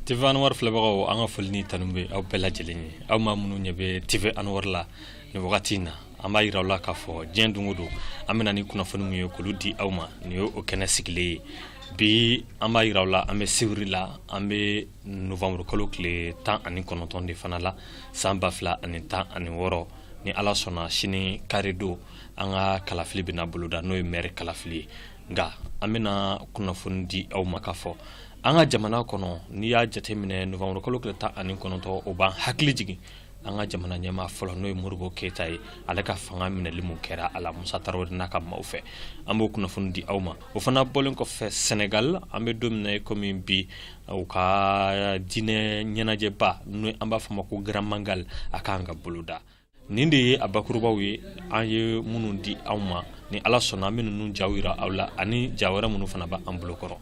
TV Anwar filɛbagaw an ka foli ni tanu bɛ aw bɛɛ lajɛlen ye, aw maa minnu ɲɛ bɛ TV Anwar la nin wagati in na, an b'a yira aw la k'a fɔ diɲɛ don o don an bɛ na ni kunnafoni min ye k'olu di aw ma, nin y'o kɛnɛ sigilen ye, bi an b'a yira aw la an bɛ sibiri la, an bɛ novanburu kalo tile tan ani kɔnɔntɔn de fana la san ba fila ani tan ani wɔɔrɔ, ni Ala sɔnna sini kari don an ka kalafili bɛna boloda n'o ye maire kalafili ye. nka an bɛna kunnafoni di aw ma k'a fɔ an ka jamana kɔnɔ n'i y'a jateminɛ novanburu kalo tile tan ani kɔnɔntɔ o b'an hakili jigin an ka jamana ɲɛmaa fɔlɔ n'o ye modibo keyita ye ale ka fanga minɛli min kɛra a la musa tarawele n'a ka maaw fɛ an b'o kunnafoni di aw ma o fana bɔlen kɔfɛ sɛnɛgal an bɛ don min na komi bi u ka diinɛ ɲɛnajɛba n'o an b'a fɔ ma ko grand magal a kan ka boloda nin de ye a bakurubaw ye an ye minnu di aw ma ni ala sɔnna an bɛ ninnu jaw yira aw la ani ja wɛrɛ minnu fana b'an bolo kɔrɔ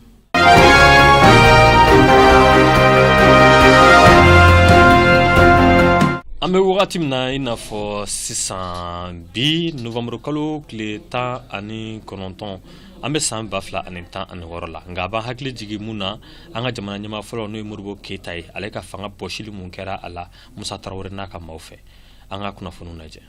an bɛ wagati min na i n'a fɔ sisan bi novanburu kalo tile tan ani kɔnɔntɔn an bɛ san ba fila ani tan ani wɔɔrɔ la nka a b'an hakili jigin mun na an ka jamana ɲɛmaa fɔlɔ n'o ye modibo keyita ye ale ka fanga bɔsili mun kɛra a la musa tarawele n'a ka maaw fɛ an ka kunnafoniw lajɛ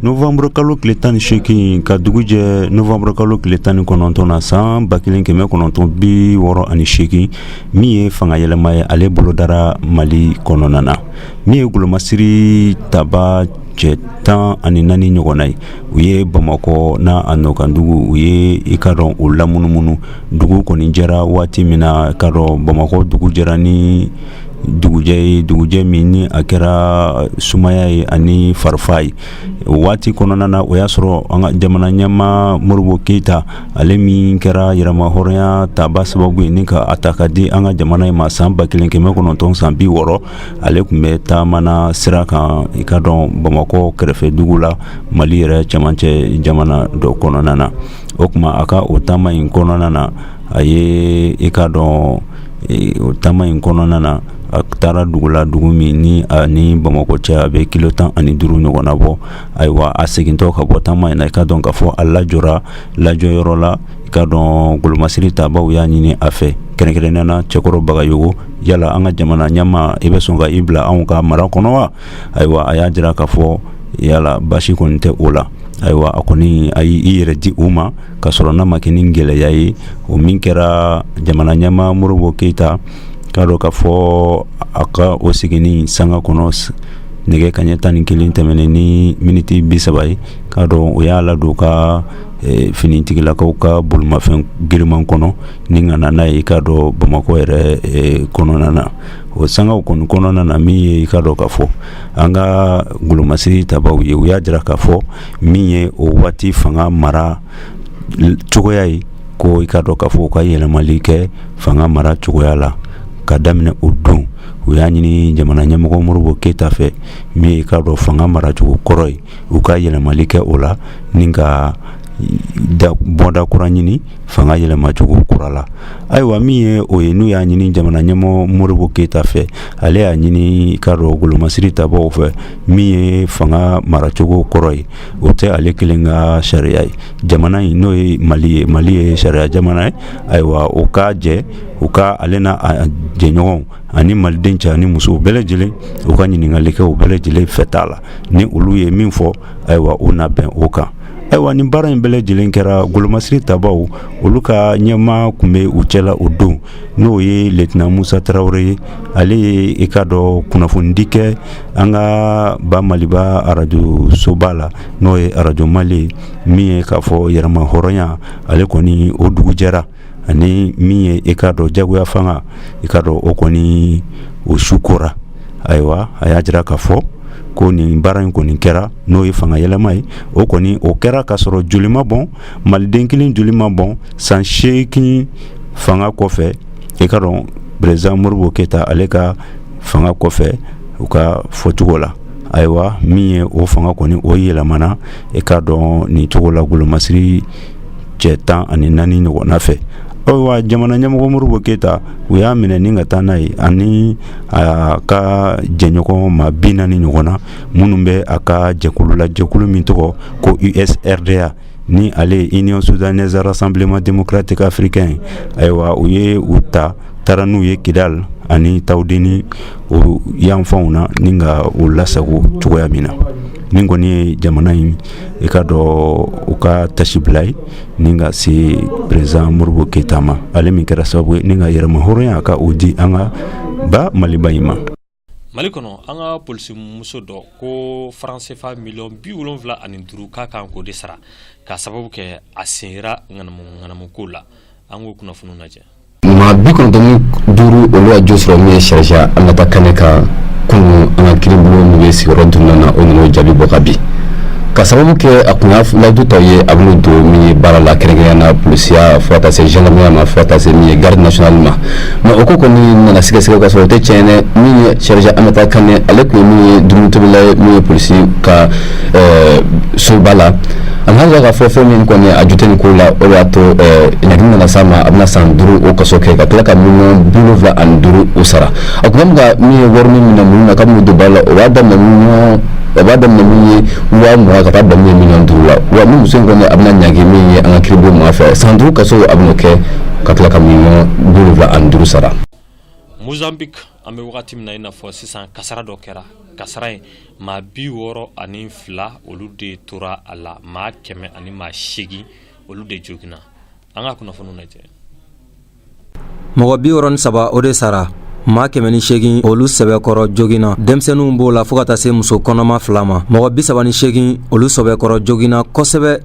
novanburu kalo tile tan ni seegin ka dugu jɛ novanburu kalo tile tan ni kɔnɔntɔn na san ba kelen kɛmɛ kɔnɔntɔn bi wɔɔrɔ ani seegin min ye fanga yɛlɛma ye ale bolodara mali kɔnɔna na min ye golomasiri taba cɛ tan ani naani ɲɔgɔnna ye u ye bamakɔ n'a a nɔkandugu u ye i k'a dɔn o lamunumunu dugu kɔni jɛra waati min na k'a dɔn bamakɔ dugu jɛra ni dugujɛ ye dugujɛ min ni a kɛra sumaya ye ani farifa ye o waati kɔnɔna na o y'a sɔrɔ an ka jamana ɲɛmaa modibo keyita ale min kɛra yɛrɛmahɔrɔnya taba sababu ye ni ka a ta k'a di an ka jamana in ma san ba kelen kɛmɛ kɔnɔntɔn san bi wɔɔrɔ ale tun bɛ taamana sira kan i k'a dɔn bamakɔ kɛrɛfɛ dugu la mali yɛrɛ cɛmancɛ jamana dɔ kɔnɔna na o tuma a ka o taama in kɔnɔna na a ye i k'a dɔn o taama in kɔnɔna na a taara dugu la dugu min ni a ni bamakɔ cɛ a bɛ kilo tan ani duuru ɲɔgɔnna bɔ ayiwa a segintɔ ka bɔ taama in na i k'a dɔn k'a fɔ a lajɔra lajɔyɔrɔ la i k'a dɔn golomasiri tabaw y'a ɲini a fɛ kɛrɛnkɛrɛnnen na cɛkɔrɔ bagayogo yala an ka jamana ɲɛmaa i bɛ sɔn ka i bila anw ka mara kɔnɔ wa ayiwa a y'a jira k'a fɔ yala basi kɔni tɛ o la ayiwa a kɔni a y'i i yɛrɛ di u ma ka sɔrɔ n'a ma kɛ ni gɛlɛya ye o min kɛra jamana ɲɛmaa Modibo Keyita k'a dɔn k'a fɔ a ka o seginni sanga kɔnɔ nɛgɛ kaɲɛ tan ni kelen tɛmɛnen ni miniti bi saba ye k'a dɔn o y'a ladon ka e, finitigilakaw ka bolimafɛn giriman kɔnɔ ni ka na n'a ye k'a dɔn bamakɔ yɛrɛ e, kɔnɔna na o sangaw kɔni kɔnɔna na min ye k'a dɔn k'a fɔ an ka golomasiri tabaw ye u y'a jira k'a fɔ min ye o waati fanga mara cogoya ye ko i k'a dɔn k'a fɔ u ka yɛlɛmali kɛ fanga mara cogoya la ka daminɛ o don u y'a ɲini jamana ɲɛmɔgɔ modibo keyita fɛ min ye i k'a dɔn fanga maracogo kɔrɔ ye u ka yɛlɛmali kɛ o la ni ka bɔda kura ɲini fanga yɛlɛmacogo kura la ayiwa min ye o ye n'u y'a ɲini jamana ɲɛmɔgɔ modibo keyita fɛ ale y'a ɲini k'a dɔn golomasiri tabaw fɛ min ye fanga maracogo kɔrɔ ye o tɛ ale kelen ka sariya ye jamana in n'o ye mali ye mali ye sariya jamana ye ayiwa o ka jɛ u ka ale n'a jɛɲɔgɔnw ani maliden cɛ ni musow bɛɛ lajɛlen u ka ɲininkali kɛ u bɛɛ lajɛlen fɛ t'a la ni olu ye min fɔ ayiwa u na bɛn o kan ayiwa nin baara in bɛɛ lajɛlen kɛra golomasiri tabaw olu ka ɲɛmaa tun bɛ u cɛla o don n'o ye letina musa tarawele ye ale ye i k'a dɔn kunnafonidi kɛ an ka ba maliba arajo soba la n'o ye arajo mali ye min ye k'a fɔ yɛrɛmahɔrɔnya ale kɔni o dugu jɛra ani min ye i k'a dɔn jagoya fanga i k'a dɔn o kɔni o su kora ayiwa a y'a jira k'a fɔ ko nin baara in kɔni kɛra n'o ye fanga yɛlɛma ye o kɔni o kɛra k'a sɔrɔ joli ma bɔn maliden kelen joli ma bɔn san seegin fanga kɔfɛ i ka dɔn peresidan modibo keyita ale ka fanga kɔfɛ u ka fɔcogo la ayiwa min ye o fanga kɔni o yɛlɛmana i k'a dɔn nin cogo la golomasiri cɛ tan ani naani ɲɔgɔnna fɛ ayiwa jamana ɲɛmɔgɔ modibo keyita u y'a minɛ ni ka taa n'a ye ani a ka jɛɲɔgɔn maa bi naani ɲɔgɔnna minnu bɛ a ka jɛkulu la jɛkulu min tɔgɔ ko usrda ni ale ye union soudanaise rassemblement démocratique africain ayiwa u ye u ta taara n'u ye kidali ani tawudeni o yanfanw na ni ka u lasago cogoya min na nin kɔni ye jamana in i k'a dɔn u ka taasibila ye ni ka se peresidan modibo keyita ma ale min kɛra sababu ye ni ka yɛrɛmahɔrɔnya ka o di an ka ba maliba in ma mali kɔnɔ an ka polisimuso dɔ ko faransefa miliyɔn bi wolonfila ani duuru k'a kan k'o de sara k'a sababu kɛ a sen yera ŋanamu ŋanamu ko la an k'o kunnafoniw lajɛ maa bi kɔnɔntɔn ni duuru olu ka jo sɔrɔ min ye sergent aminata kane kan kunu an ka kiiribulon min bɛ sigiyɔrɔ duurunan na o nana o jaabi bɔ ka bi ka sababu kɛ a kun y'a layidu ta u ye a bɛn'u don min ye baara la kɛrɛnkɛrɛnya na polisiya fo ka taa se gendarmerie ma fo ka taa se min ye garde nationale ma Mɛ o ko kɔni nana sɛgɛsɛgɛ ka sɔrɔ o tɛ tiɲɛ min ye sergent aminata kane ale tun min ye dumunitobila ye min ye polisi ka soba la a nana k'a fɔ fɛn min kɔni a ju tɛ ko la o y'a to ɲangi nana s'a ma a bɛna san duuru o kaso kɛ ka tila ka miliyɔn bi wolonfila ani duuru u sara a tun min ye wari min minɛ minnu na k'a bɛn'u don baara la o b'a daminɛ minnu o b'a daminɛ min ye waa mugan ka taa bila min ye miliyɔn duuru la wa nin muso in kɔni a bɛna ɲangi min ye an ka kiiribulon ma fɛ san duuru kaso a bɛna kɛ ka tila ka miliyɔn bi wolonfila ani duuru sara mozambique an bɛ wagati min na i n'a fɔ sisan kasara dɔ kɛra kasara in maa bi wɔɔrɔ ani fila olu de tora a la maa kɛmɛ ani maa seegin olu de jogina an ka kunnafoni lajɛ mɔgɔ bi wɔɔrɔ ni saba o de sara maa kɛmɛ ni seegin olu sɛbɛkɔrɔ jogina denmisɛnninw b'o la fo ka taa se muso kɔnɔma fila ma mɔgɔ bi saba ni seegin olu sɛbɛkɔrɔ jogina kosɛbɛ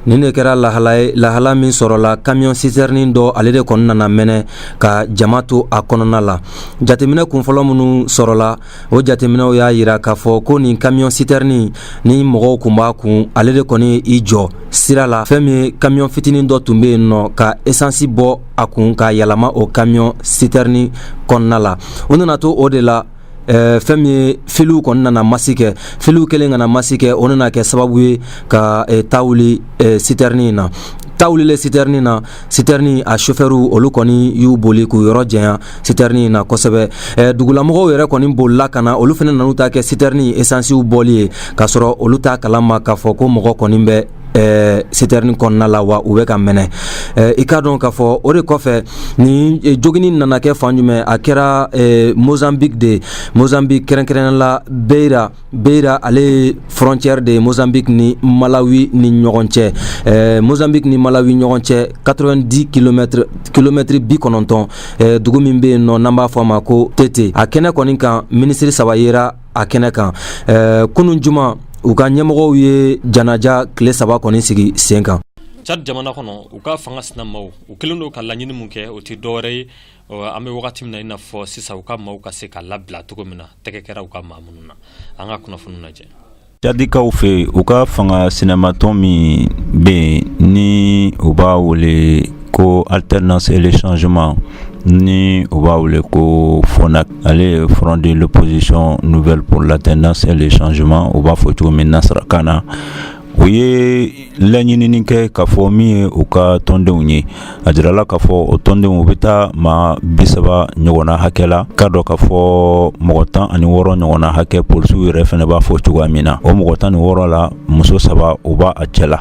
nin de kɛra lahala ye lahala min sɔrɔla kamiyɔn sitɛrinin dɔ ale de kɔni nana mɛnɛ ka jama to a kɔnɔna la jateminɛ kunfɔlɔ minnu sɔrɔla o jateminɛw y'a yira k'a fɔ ko nin kamiyɔn sitɛrinin ni mɔgɔw kun b'a kun ale de kɔni y'i jɔ sira la fɛn min ye kamiyɔn fitinin dɔ tun bɛ yen nɔ ka esansi bɔ a kun k'a yɛlɛma o kamiyɔn sitɛrinin kɔnɔna la u nana to o de la Eh, fɛn min ye filiw kɔni nana masi kɛ filiw kɛlen ka na masi kɛ o nana kɛ sababu ye ka eh, ta wuli eh, sitɛrinin in na ta wulilen sitɛrinin na sitɛrinin a sofɛriw olu kɔni y'u boli k'u yɔrɔ janya sitɛrinin in na kosɛbɛ dugulamɔgɔw yɛrɛ kɔni bolila ka na olu fana nan'u ta kɛ sitɛrinin esansiw bɔli ye k'a sɔrɔ olu t'a kala ma k'a fɔ ko mɔgɔ kɔni bɛ Eh, sitɛrini kɔnɔna la wa u bɛ ka mɛnɛ eh, i k'a dɔn k'a fɔ o de kɔfɛ nin eh, jogini nana kɛ fan jumɛn a kɛra mozambique de ye mozambique kɛrɛnkɛrɛnnen la beira beira ale ye frontière de ye mozambique ni malawi ni ɲɔgɔn cɛ mozambique ni malawi ɲɔgɔn cɛ 90 kilomɛtiri kilomɛtiri bi kɔnɔntɔn dugu min bɛ yen nɔ n'an b'a fɔ a ma ko tete a kɛnɛ kɔni kan minisiri saba yera a kɛnɛ kan ɛɛ kunun juma u ka ɲɛmɔgɔw ye janaja tile saba kɔni sigi sen kan Chad jamana kɔnɔ u ka fanga sinamaw u kɛlen don ka laɲini min kɛ o tɛ dɔwɛrɛ ye an bɛ wagati min na i n'a fɔ sisan u ka maaw ka se ka labila cogo min na tɛgɛ kɛra u ka maa minnu na an ka kunnafoni lajɛ Cadikaw fɛ u ka fanga sinamatɔn min bɛ yen ni u b'a wele ko alternance et le changement ni u b'a wele ko FONAC ale ye Front de l'opposition nouvelle pour l'alternance et le changement u b'a fɔ cogo min nasarakan na u ye laɲinini kɛ k'a fɔ min ye u ka tɔndenw ye a jirala k'a fɔ o tɔndenw u bɛ taa maa bisaba ɲɔgɔn na hakɛ la ka dɔn k'a fɔ mɔgɔ tan ani wɔɔrɔ ɲɔgɔn na hakɛ polisiw yɛrɛ fana b'a fɔ cogoya min na o mɔgɔ tan ni wɔɔrɔ la muso saba u b'a cɛ la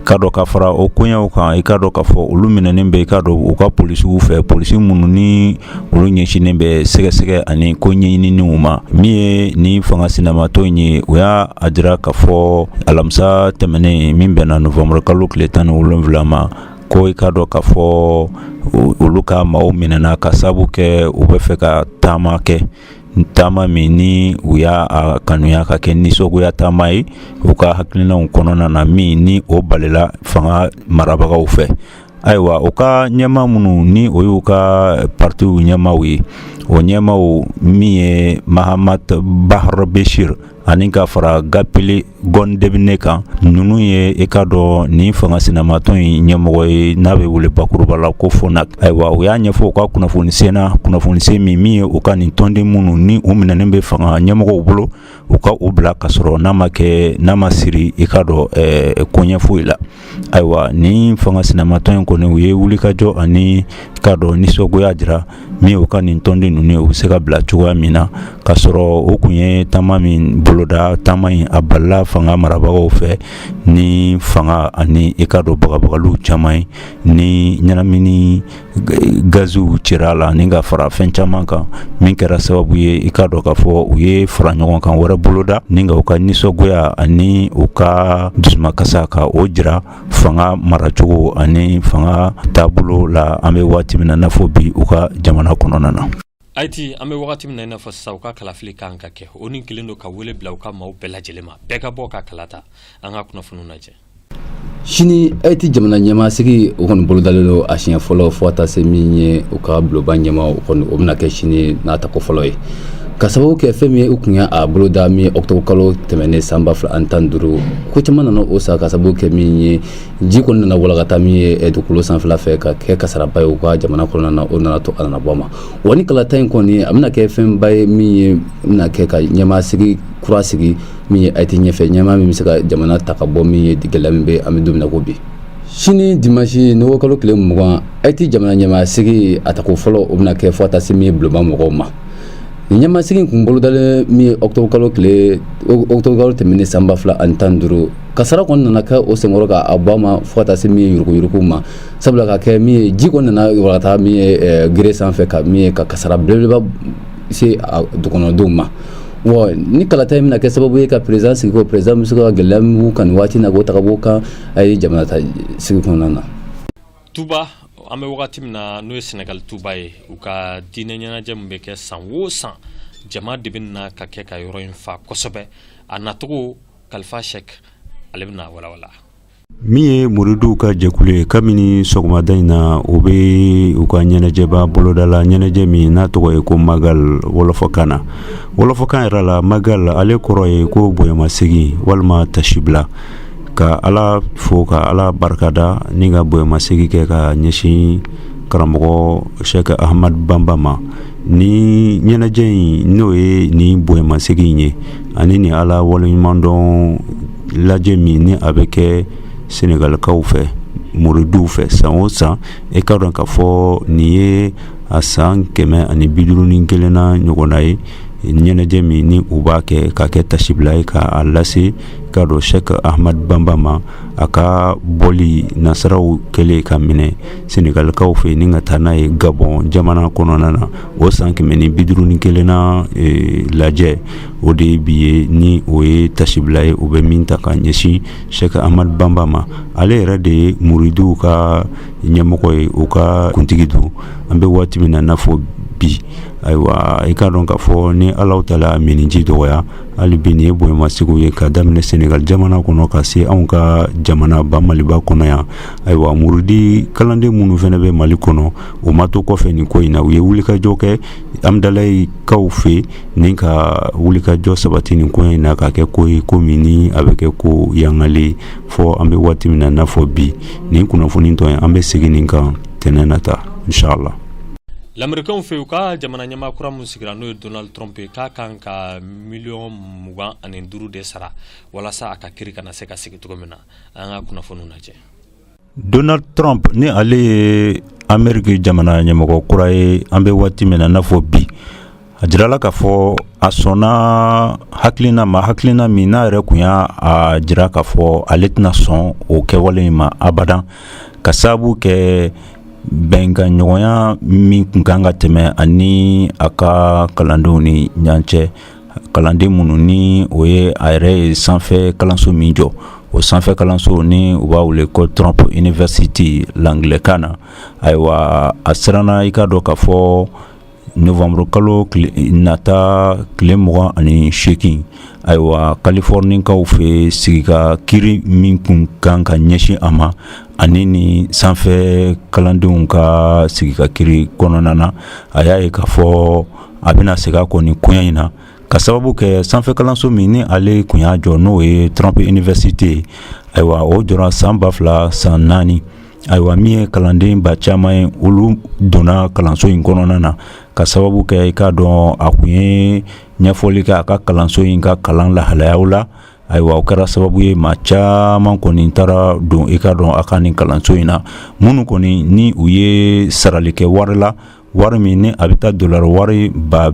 ka dɔn ka fara o koɲɛw kan i ka dɔn k'a fɔ olu minɛnen bɛ i ka dɔn u ka polisiw fɛ polisi minnu ni olu ɲɛsinnen bɛ sɛgɛsɛgɛ ani ko ɲɛɲinininw ma min ye ni fanga sinamatɔn in ye u y'a jira k'a fɔ alamisa tɛmɛnen min bɛnna novembre kalo tile tan ni wolonwula ma ko i ka dɔn k'a fɔ olu ka maaw minɛna ka sabu kɛ u bɛ fɛ ka taama kɛ taama min ni u y'a kanuya ka kɛ nisɔngoya taama ye u ka hakilinaw kɔnɔna na min ni o balila fanga marabagaw fɛ ayiwa u ka ɲɛmaa minnu ni o y'u ka partiw ɲɛmaaw ye o ɲɛmaaw min ye Mahamat Bahar Béchir ani ka fara Gapili Gondebne kan ninnu ye i ka dɔn ni fanga sinamatɔn in ɲɛmɔgɔ ye n'a bɛ wele bakuruba la ko FONAC ayiwa u y'a ɲɛfɔ u ka kunnafoni senna kunnafoni sen min min ye u ka nin tɔnden minnu ni u minɛnen bɛ fanga ɲɛmɔgɔw bolo u ka u bila ka sɔrɔ n'a ma kɛ n'a ma siri i ka dɔn koɲɛ foyi la ayiwa ni fanga sinamatɔn in kɔni u ye wulikajɔ ani ka dɔn nisɔngoya jira min u ka nin tɔnden ninnu ye u bɛ se ka bila cogoya min na ka sɔrɔ u kun ye taama min boloda taama in a balila fanga marabagaw fɛ ni fanga ani i ka dɔn bagabagaliw caman ye ni ɲɛnamini gaziw cira a la ni ka fara fɛn caman kan min kɛra sababu ye i ka dɔn k'a fɔ u ye fara ɲɔgɔn kan wɛrɛ boloda ni ka u ka nisɔngoya ani u ka dusumakasa ka o jira fanga maracogo ani fanga taabolo la an bɛ waati min na n'a fɔ bi u ka jamana kɔnɔna na ayiti an bɛ wagati min na i n'a fɔ sisan u ka kalafili kan ka kɛ o ni kelen don ka wele bila u ka maaw bɛɛ lajɛlen ma bɛɛ ka bɔ ka kala ta an ka kunnafoniw lajɛ sini Ayiti jamana ɲɛmaasigi o kɔni bolodalen don a siɲɛ fɔlɔ fo ka taa se min ye u ka bulonba ɲɛmaa o kɔni o bɛna kɛ sini n'a tako fɔlɔ ye ka sababu kɛ fɛn min ye u tun y'a boloda min octobre kalo tɛmɛnen san ba fila ani tan duuru ko caman nana o sa ka sababu kɛ min ye ji kɔni nana walankata min ye eh, dugukolo sanfɛla fɛ ka kɛ kasaraba ye u ka jamana kɔnɔna na o nana to a nana bɔ a ma wa ni kalata in kɔni a bɛna kɛ fɛnba ye min ye bɛna kɛ ka ɲɛmaa sigi kura sigi min ye ayiti ɲɛfɛ ɲɛmaa min bɛ se ka jamana ta ka bɔ min ye gɛlɛya min bɛ an bɛ don min na ko bi sini dimansi nowanburu kalo tile mugan ayiti jamana ɲɛmaa sigi a tako fɔlɔ o bɛna kɛ fo ka taa se min ye bulonba mɔgɔw ma nin ɲɛmaa sigi kun bolodalen min ye ɔkutɔbu kalo tile ɔkutɔbu kalo tɛmɛnen san ba fila ani tan duuru kasara kɔni nana kɛ o senkɔrɔ ka a bɔ a ma fo ka taa se min ye yuruguyurugu ma sabula ka kɛ min ye ji kɔni nana walankata min ye gere sanfɛ ka min ye ka kasara belebeleba se a dukɔnɔdenw ma Wa ni kalata in bɛna kɛ sababu ye ka peresidan sigi ko peresidan bɛ se ka gɛlɛya min b'u kan nin waati na k'o ta ka bɔ u kan a ye jamana ta sigi kɔnɔna na tuba an bɛ wagati min na n'o ye sɛnɛgali tuba ye u ka diinɛ ɲɛnajɛ min bɛ kɛ san o san jama de bɛ na ka kɛ ka yɔrɔ in fa kosɛbɛ a nacogo kalifa sɛki ale bɛna a walawala Min ye muridiw ka jɛkulu ye kabini sɔgɔmada in na u bɛ u ka ɲɛnajɛba boloda la ɲɛnajɛ min n'a tɔgɔ ye ko magal wɔlɔfɔkan na wɔlɔfɔkan yɛrɛ la magal ale kɔrɔ ye ko bonyamasegin walima tasibila ka ala fo ka ala barikada ni ka bonyamasegin kɛ ka ɲɛsin karamɔgɔ sɛki ahamadu banba ma ni ɲɛnajɛ in n'o ye nin bonyamasegin ye ani ni ala waleɲumandɔn lajɛ min ni a bɛ kɛ sɛnɛgalikaw fɛ muridiw fɛ san o san i k'a dɔn k'a fɔ nin ye a san kɛmɛ ani biduuru ni kelenna ɲɔgɔnna ye ɲɛnajɛ min ni u b'a kɛ ka kɛ tasibila ye k'a lase ka dɔn sɛki ahamadu banba ma a ka bɔli nasaraw kɛlen k'a minɛ sɛnɛgalikaw fɛ ni ka taa n'a ye gabɔn jamana kɔnɔna na o san kɛmɛ ni biduuru ni kelenna lajɛ o de ye bi ye ni o ye tasibila ye o bɛ min ta k'a ɲɛsin sɛki amadu banba ma ale yɛrɛ de ye muridiw ka ɲɛmɔgɔ ye u ka kuntigi don an bɛ waati min na n'a fɔ bi ayiwa i k'a dɔn k'a fɔ ni ala taala miniji dɔgɔya hali bi nin ye bonyamasegin ye ka daminɛ sɛnɛgali jamana kɔnɔ ka se anw ka jamana ba maliba kɔnɔ yan ayiwa muridi kalanden minnu fana bɛ mali kɔnɔ o ma to kɔfɛ nin ko in na u ye wulikajɔ kɛ amidalayi kaw fɛ ni ka wulikajɔ sabati nin ko in na ka kɛ ko ye ko min ni a bɛ kɛ ko yangale fɔ an bɛ waati min na n'a fɔ bi nin kunnafoni tɔ ye an bɛ segin nin kan tɛnɛn nata inshallah lamerikɛnw fɛ u ka jamana ɲɛmaa kura min sigira n'o ye donald trump ye k'a kan ka miliyɔn mugan ani duuru de sara walasa a ka kiri kana se ka sigi cogo min na an ka kunnafoniw lajɛ Donald trump ni ale ye ameriki jamana ɲɛmɔgɔ kura ye an bɛ waati min na n'a fɔ bi a jirala k'a fɔ a sɔnna hakilina ma hakilina min n'a yɛrɛ kun y'a jira k'a fɔ ale tɛna sɔn o kɛwale in ma abada ka sababu kɛ bɛnkanɲɔgɔnya min kun kan ka tɛmɛ a ni a ka kalandenw ni ɲɔgɔn cɛ kalanden minnu ni o ye a yɛrɛ ye sanfɛ kalanso min jɔ o sanfɛ kalanso ni u b'a wele ko trump university angilɛkan na ayiwa a siranna i k'a dɔn k'a fɔ novembre kalo nata tile mugan ani seegin ayiwa kalifɔrnikaw fɛ sigi ka kiri min kun kan ka ɲɛsin a ma ani ni sanfɛ kalandenw ka sigi ka kiri kɔnɔna na a y'a ye k'a fɔ a bɛna segin a kɔ nin koɲɛ in na ka sababu kɛ sanfɛ kalanso min ni ale kun y'a jɔ n'o ye trump université ye ayiwa o jɔra san ba fila san naani ayiwa min ye kalanden ba caman ye olu donna kalanso in kɔnɔna na ka sababu kɛ i k'a dɔn a kun ye ɲɛfɔli kɛ a ka kalanso in ka kalan lahalayaw la ayiwa o kɛra sababu ye maa caman kɔni taara don i k'a dɔn a ka nin kalanso in na minnu kɔni ni u ye sarali kɛ wari la wari min ni a bɛ taa dollar wari ba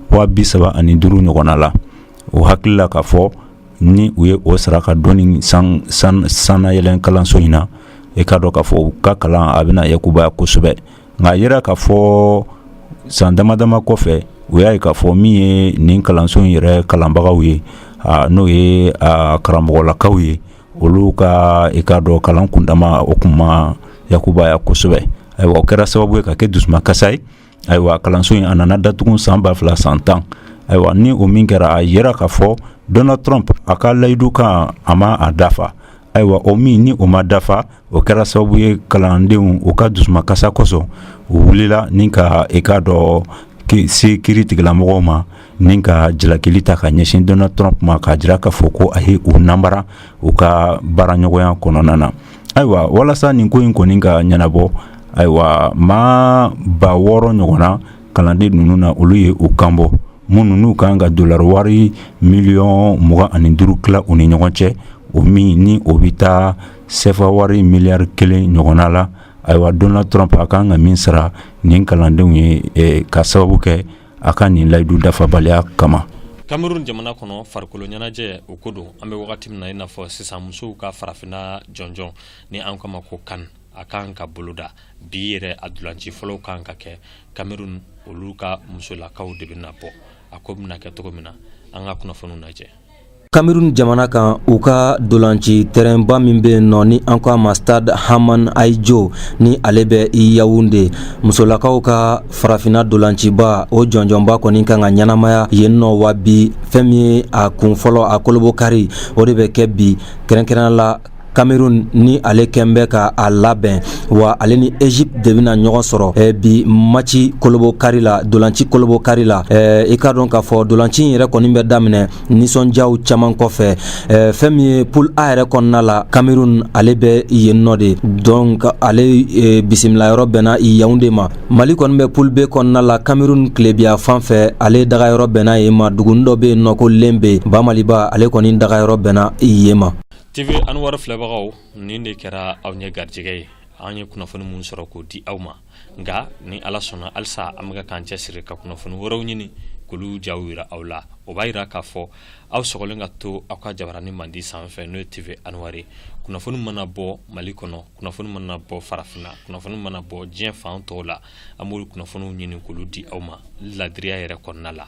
waa bi saba ani duuru ɲɔgɔnna la o hakilila k'a fɔ ni u ye o sara ka don nin sannayɛlɛn kalanso in na e k'a dɔn k'a fɔ u ka kalan a bɛna yakubaya kosɛbɛ nka a yera k'a fɔ san dama dama kɔfɛ u y'a ye k'a fɔ min ye nin kalanso in yɛrɛ kalanbagaw ye n'o ye karamɔgɔlakaw ye olu ka i k'a dɔn kalan kundama o kun ma yakubaya kosɛbɛ ayiwa o kɛra sababu ye ka kɛ dusumakasa ye ayiwa kalanso in a nana datugu san ba fila san tan ayiwa ni o min kɛra a yera k'a fɔ donald trump a ka layidu kan a ma a dafa ayiwa o min ni o ma dafa o kɛra sababu ye kalandenw u ka dusumakasa kosɔn u wulila ni ka e k'a dɔn se kiri tigɛla mɔgɔw ma ni ka jalakili ta ka ɲɛsin donald trump ma k'a jira k'a fɔ ko a ye u nanbara u ka baaraɲɔgɔnya kɔnɔna na ayiwa walasa nin ko in kɔni ka ɲɛnabɔ ayiwa maa ba wɔɔrɔ ɲɔgɔnna kalanden ninnu na olu ye u kanbɔ minnu n'u kan ka dollar wari miliyɔn mugan ani duuru tila u ni ɲɔgɔn cɛ o min ni o bɛ taa sefa wari miliyari kelen ɲɔgɔnna la ayiwa donald trump a kan ka min sara nin kalandenw ye ka sababu kɛ a ka nin layidu dafabaliya kama kamerun jamana kɔnɔ farikolo ɲɛnajɛ o ko don an bɛ wagati min na i n'a fɔ sisan musow ka farafinna jɔnjɔn ni an k'a ma ko CAN a kan ka boloda bi yɛrɛ a dulanci fɔlɔw kan ka kɛ kamerun olu ka musolakaw de bɛna bɔ a ko bɛna kɛ cogo min na an ka kunnafoniw lajɛ Kamerun jamana kan u ka dolanci tɛrɛnba min bɛ yen nɔ ni an ko a ma stade Haman Ahidjo ni ale bɛ Yaounde musolakaw ka farafinna dolanciba o jɔnjɔnba kɔni kan ka ɲɛnamaya yen nɔ wa bi fɛn min ye a kun fɔlɔ a kolobo kari o de bɛ kɛ bi kɛrɛnkɛrɛnnenya la Cameroun ni ale kɛlen bɛ ka a labɛn wa ale ni Egypte de bɛna ɲɔgɔn sɔrɔ ɛ bi match kolobo kari la dolanci kolobo kari la ɛ i k'a dɔn k'a fɔ dolanci in yɛrɛ kɔni bɛ daminɛ nisɔndiyaw caman kɔfɛ ɛ fɛn min ye poule A yɛrɛ kɔnɔna la Cameroun ale bɛ yen nɔ de donc ale e, bisimila yɔrɔ bɛnna Yaounde ma Mali kɔni bɛ poule B kɔnɔna la Cameroun tilebin yanfan fɛ ale daga yɔrɔ bɛnna yen ma dugunin dɔ bɛ yen nɔ ko Limbe ba Maliba ale kɔni daga yɔrɔ bɛnna yen ma TV Anwar filɛbagaw nin de kɛra aw ɲɛ garijɛgɛ ye an ye kunnafoni min sɔrɔ k'o di aw ma nka ni Ala sɔnna halisa an bɛka k'an cɛsiri ka kunnafoni wɛrɛw ɲini k'olu jaw yira aw la o b'a yira k'a fɔ aw sɔgɔlen ka to aw ka jabarani mandi sanfɛ n'o ye TV Anwar ye kunnafoni mana bɔ Mali kɔnɔ kunnafoni mana bɔ farafinna kunnafoni mana bɔ diɲɛ fan tɔw la an b'olu kunnafoniw ɲini k'olu di aw ma laadiriya yɛrɛ kɔnɔna la